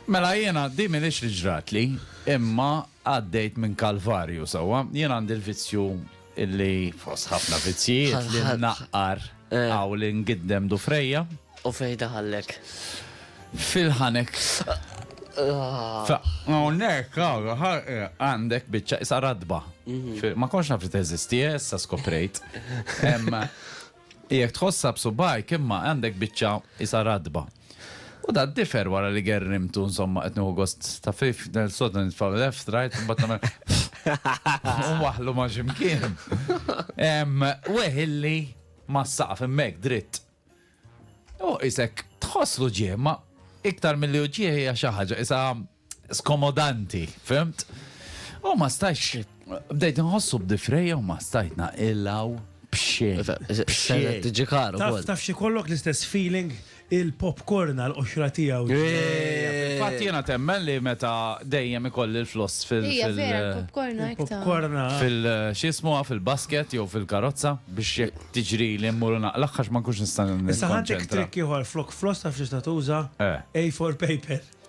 Mela jiena din m'iniex li ġratli, imma għaddejt minn kalvarju sewwa. Jien għandi l-vizzju li fost ħafna vizzjijiet li nnaqqar hawn li ngiddem dufrejja. U fejn daħallek? Fil-ħanek. Hawnhekk għandek biċċa qisha ratba. Ma kontx naf li teżisti, issa skoprejt. Jekk tħossha b'subgħajk imma għandek biċċa qisha ratba. U da d-difer wara li gerrimtu insomma qed nieħu gost ta' fif nel sodda nitfa' left right imbagħad nagħmel u nwaħħlu ma' xi mkien. Ehm, weħilli mas-saqaf hemmhekk dritt. U qisek tħosslu ġieħ ma iktar milli hu ġieħ hija xi ħaġa qisha skomodanti, fimt? U ma stajx, bdejt nħossu b'difreja u ma stajt naqillaw bxej. Sena tiġi karu. Taf, taf xi kollok l-istess feeling il-popcorn għal qoxra tiegħu. Fatt jiena temmen li meta dejjem ikolli l-floss fil- Hija vera l-popcorn hekk ta. Popcorn fil xismu fil-basket jew fil-karozza biex jekk tiġri li mmur naqlaq għax ma nkunx nista' Issa ħadd trick ieħor flok floss taf x'tista' tuża? A4 paper.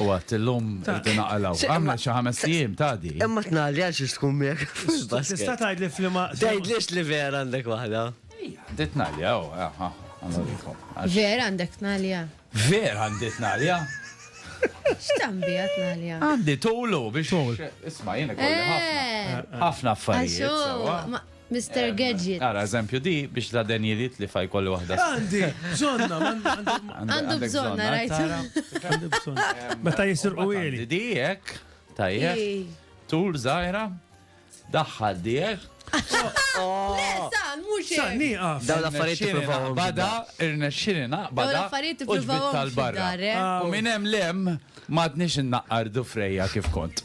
U għat l-lum rridu naqalaw. Għamna xi ħames jiem ta' di. Imma tnalli għal xiex tkun miegħek. Tista' tgħid li flima. Tgħid lix li vera għandek waħda. Dit tnalli għaw. Vera għandek tnalli għaw. Vera għandek tnalli għaw. Xtambi għat tnalli għaw. Għandi tulu biex. Isma jena kolli ħafna. Eh. Ħafna affarijiet. Mister Gadget. Ara, eżempju, di biex la Daniel jitlifha jkolli waħda s. Għandi bżonnha, m'għandi. Għandu bżonnha, rajt. Għandi bżonnha. Meta jisirqu ili. Di hekk, tajjeb. Tul żgħira. Daħħal di hekk. Le, San, mhux hekk. San, nieqaf. Dawn l-affarijiet tippruvahom. Bada, irnexxieli naqbad. Dawn l-affarijiet tippruvahom tal-barra. U minn hemm lem m'għadniex innaqqardu frejja kif kont.